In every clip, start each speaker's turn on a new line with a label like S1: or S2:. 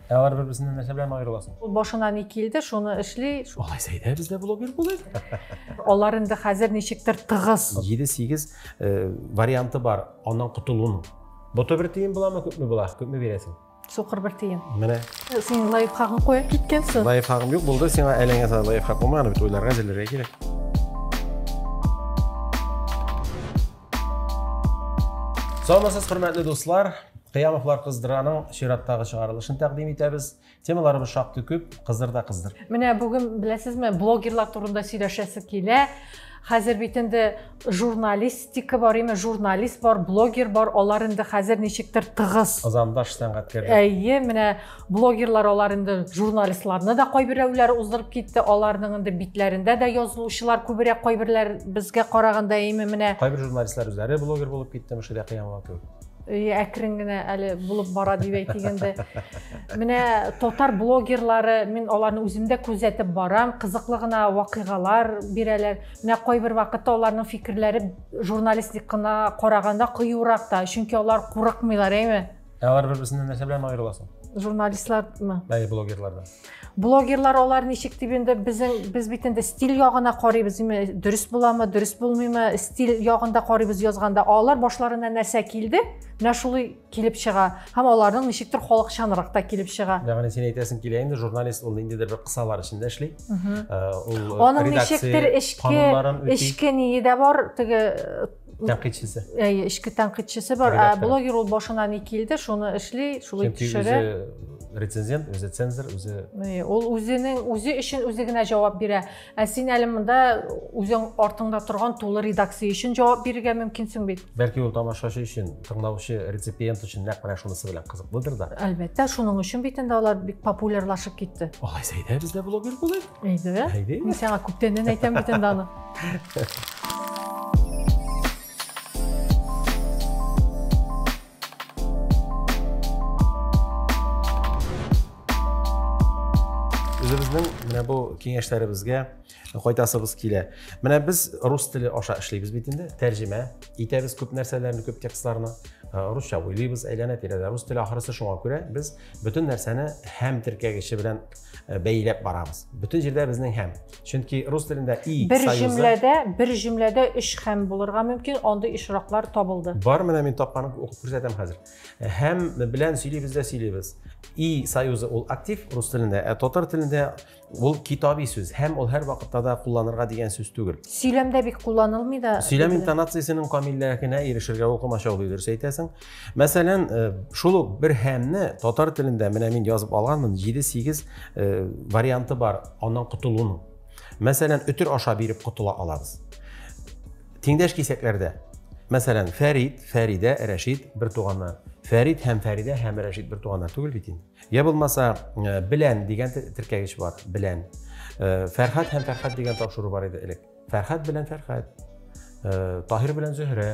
S1: Ә алар бер-берсеннән нәрсә белән аерыласың? Ул башына ни килде, шуны эшли. Алай сәйдә бездә блогер булыр. Алар инде хәзер ничектер тыгыз. 7-8 э, варианты бар аннан котылуның. Боты бер тиен буламы, күпме була? Күпме бирәсең? Сукыр бер тиен. Менә. Э, син лайфхагын куеп киткәнсең. Лайфхагым юк булды, сиңа әлеңә сала лайфхак булмаган бит, уйларга әзерләргә кирәк. Саламатсыз, хөрмәтле дуслар. Кыямовлар кыздыраның чираттагы чыгарылышын тәкъдим итәбез. Темаларыбыз шактый күп, кыздыр да кыздыр. Менә бүген беләсезме, блогерлар турында сөйләшәсе килә. Хәзер бит инде журналистика бар, именно журналист бар, блогер бар, алар инде хәзер ничектер тыгыз. Азандаш сәнгатькәр. Әйе, менә блогерлар алар инде журналистларны да кайберәүләр уздырып китте аларның инде битләрендә дә язылучылар күбрәк кайберләр безгә караганда әйме менә кайбер журналистлар үзләре блогер булып китте мөширә кыямова кебек әкрен генә әле булып бара дип әйтик инде менә татар блогерлары мин аларны үзем дә күзәтеп барам кызыклы гына вакыйгалар бирәләр менә кайбер вакытта аларның фикерләре журналистикына караганда кыюрак та чөнки алар курыкмыйлар әйме Ә алар бер-берсеннән нәрсә белән аерыласың? Журналистлармы? Әйе, блогерлардан. Блогерлар алар ничек дип инде безнең без бит инде стиль ягына карыйбыз, дөрес буламы, дөрес булмыймы, стиль ягында карыйбыз язганда, алар башларына нәрсә килде, менә шулай килеп чыга. Һәм аларның ничектер халыкчанрак та килеп чыга. Ягъни син әйтәсең килә инде журналист ул ниндидер бер кысалар эчендә эшли. Э, ул э, аның ничектер эчке эчке ние дә бар, теге тәнкыйтьчесе әйе эчке тәнкыйтьчесе бар ә блогер ул башына ни килде шуны эшли шулай төшерә рецензент үзе цензор үзе ул үзенең үзе өчен үзе генә җавап бирә ә син әле монда үзең артыңда торган тулы редакция өчен җавап бирергә мөмкинсең бит бәлки ул тамашачы өчен тыңлаучы реципиент өчен нәкъ менә шунысы белән кызыклыдыр да әлбәттә шуның өчен бит инде алар бик популярлашып китте алай сәйдә бездә блогер булыйк Әйдә. Әйдә. Мин сиңа күптәннән әйтәм бит инде аны. Үзебезнең менә бу киңәшләребезгә кайтасыбыз килә. Менә без рус теле аша эшлибез бит инде, тәрҗемә итәбез күп нәрсәләрне, күп текстларны. Э, русча уйлыйбыз әйләнә тирәдә рус теле ахрысы шуңа күрә без бөтен нәрсәне һәм теркәгече белән Э, бәйләп барабыз бөтен җирдә безнең һәм чөнки рус телендә и бер җөмләдә бер җөмләдә өч һәм булырга мөмкин андый очраклар табылды бар менә мин тапканын укып күрсәтәм хәзер э, һәм белән сөйлибез дә сөйлибез и союзы ул актив рус телендә ә татар телендә ул китаби сүз һәм ул һәр вакытта да кулланырга дигән сүз түгел сөйләмдә бик кулланылмый да сөйләм интонациясенең камиллегенә ирешергә ул комачаулый дөрес әйтәсең Мәсәлән, э, шул ук бер һәмне татар телендә менә мин язып алганмын, 7-8 э, варианты бар аннан котылуның. Мәсәлән, өтер аша биреп котыла алабыз. Тиңдәш кисәкләрдә. Мәсәлән, Фәрид, Фәридә, Рәшид бер туганнар. Фәрид һәм Фәридә һәм Рәшид бер туганнар түгел бит инде. Я булмаса, э, белән дигән теркәгеч бар, белән. Фәрхат һәм Фәрхат дигән тапшыру бар иде элек. Фәрхәт белән Фәрхәт, э, Таһир белән Зөһрә,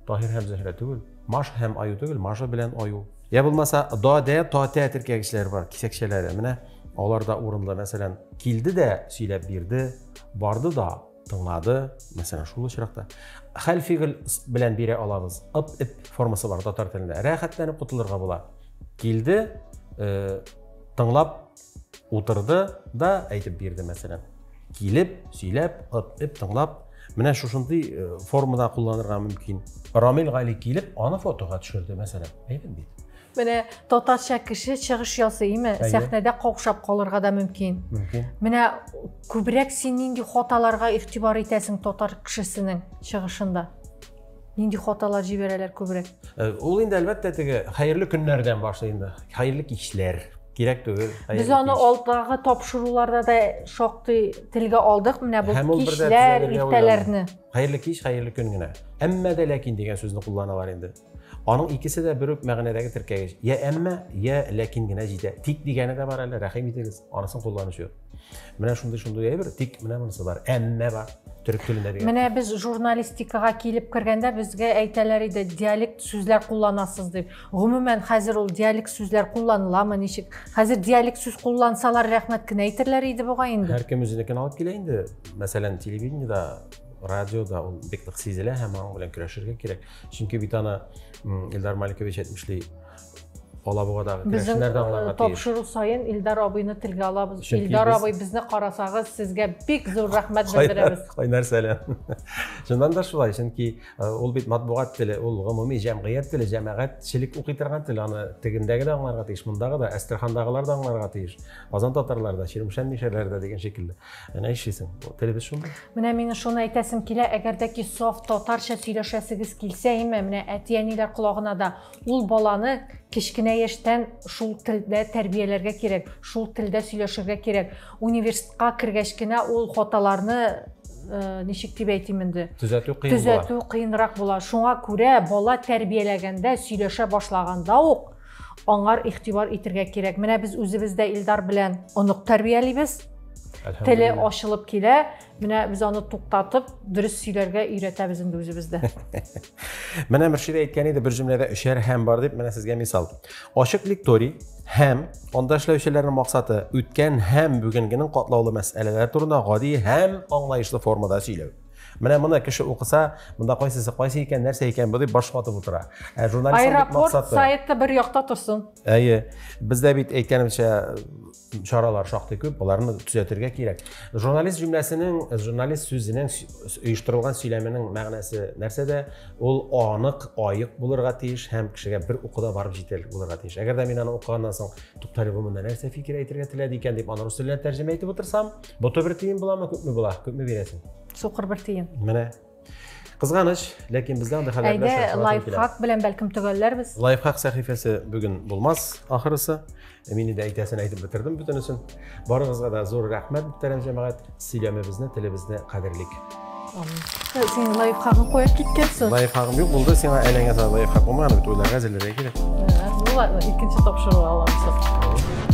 S1: Таһир һәм Зөһрә түгел, Маш һәм Аю түгел, Маша белән Аю. Я булмаса, Дадә, Татә теркәгечләре бар, кисәкчәләре. Менә алар да урынлы, мәсәлән, килде дә сөйләп бирде, барды да тыңлады, мәсәлән, шул очракта. Хәл фигыль белән бирә алабыз. Ып, ип формасы бар татар телендә. Рәхәтләнеп котылырга була. Килде, э, тыңлап Утырды да әйтеп бирде, мәсәлән. Килеп, сөйләп, эп тыңлап, менә шушындый э, формада кулланырга мөмкин. Рамил Гали килеп, аны фотога төшерде, мәсәлән. Әйдәм бит. Менә татарча кеше чыгыш ясыймы, сәхнәдә каушап калырга да мөмкин. Мөмкин. Менә күбрәк син нинди хаталарга игътибар итәсең татар кешесенең чыгышында? Нинди хаталар җибәрәләр күбрәк? Э, ул инде әлбәттә теге хәерле көннәрдән башлый инде. Хәерле кичләр. Кирәк түгел. Без аны алдагы тапшыруларда да шактый телгә алдык. Менә бу кичләр, иртәләрне. Хәерле кич, хәерле көн генә. Әмма дә ләкин дигән сүзне кулланалар инде. Аның икесе дә бер үк мәгънәдәге теркәгеч. Я әмма, я ләкин генә җитә. Тик дигәне дә бар әле, рәхим итегез, анысын кулланучы юк. Менә шундый шундый әйбер, тик менә монысы бар. Әмма бар. Төрек телендә дигән. Менә без журналистикага килеп кергәндә безгә әйтәләр иде, диалект сүзләр кулланасыз дип. Гомумән хәзер ул диалект сүзләр кулланыламы, ничек? Хәзер диалект сүз куллансалар, рәхмәт кенә әйтерләр иде буга инде. Һәркем үзенекен алып килә инде. Мәсәлән, телевидениедә радиода ул бик нык сизелә һәм аның белән көрәшергә кирәк. Чөнки бит аны Илдар Маликович әйтмешли, Алабугадагы керәшеннәр дә аңларга тиеш. Тапшыру саен Илдар абыйны телгә алабыз. Чөнки Илдар абый безне карасагыз, сезгә бик зур рәхмәт белдерәбез. Кайнар сәлам. Чыннан да шулай, чөнки ул бит матбугат теле, ул гомуми җәмгыять теле, җәмәгатьчелек укый торган тел. Аны тегендәге дә аңларга тиеш, мондагы да, Әстерхандагылар да аңларга тиеш. Казан татарлары да, Чирмешән мишәрләре дә дигән шикелле. Менә эшлисең. Телебез шундый. Менә миңа шуны әйтәсем килә, әгәр дә ки саф татарча сөйләшәсегез килсә, име, менә әти-әниләр колагына да Ул баланы кечкенә яшьтән шул телдә тәрбияләргә кирәк, шул телдә сөйләшергә кирәк. Университетка кергәч кенә ул хаталарны э, ничек дип әйтим инде? Төзәтү кыен була. Төзәтү кыенрак була. Шуңа күрә бала тәрбияләгәндә, сөйләшә башлаганда ук аңар игътибар итергә кирәк. Менә без үзебез дә Илдар белән онык тәрбиялибез. Теле ачылып килә. Менә без аны туктатып, дөрес сөйләргә өйрәтәбез инде үзебездә. Менә Мөршидә әйткән иде, бер җөмләдә өчәр һәм бар дип, менә сезгә мисал. Ачык лекторий һәм анда эшләүчеләрнең максаты үткән һәм бүгенгенең катлаулы мәсьәләләре турында гади һәм аңлаешлы формада сөйләү. Менә моны кеше укыса, монда кайсысы кайсы икән, нәрсә икән бу дип баш ватып утыра. Ә журналист Аэропорт сайты бер якта торсын. Әйе. Бездә бит әйткәнемчә чаралар шактый күп, аларны төзәтергә кирәк. Журналист җөмләсенең, журналист сүзенең оештырылган сөйләменең мәгънәсе нәрсәдә? Ул анык, аек булырга тиеш һәм кешегә бер укуда барып җитәрлек булырга тиеш. Әгәр дә мин аны укыганнан соң, туктале бу монда нәрсә фикер әйтергә теләде икән дип аны рус теленә тәрҗемә итеп утырсам, боты бер тиен буламы, күпме була? Күпме бирәсең? Сукыр бер тиен. Менә. Кызганыч, ләкин бездә андый хәлләр белән Әйдә, шартлатып киләбез. лайфхак белән бәлкем төгәлләрбез. Лайфхак сәхифәсе бүген булмас, ахрысы. Ә Мин инде әйтәсен әйтеп бетердем бөтенесен. Барыгызга да зур рәхмәт, мөхтәрәм җәмәгать. Сөйләмебезне, телебезне кадерлик. Син лайфхагын куеп киткәнсең. Лайфхагым юк булды, сиңа әләңгә сала лайфхак булмаган бит, уйларга әзерләргә кирәк. Ну ладно, икенче тапшыру аламсың.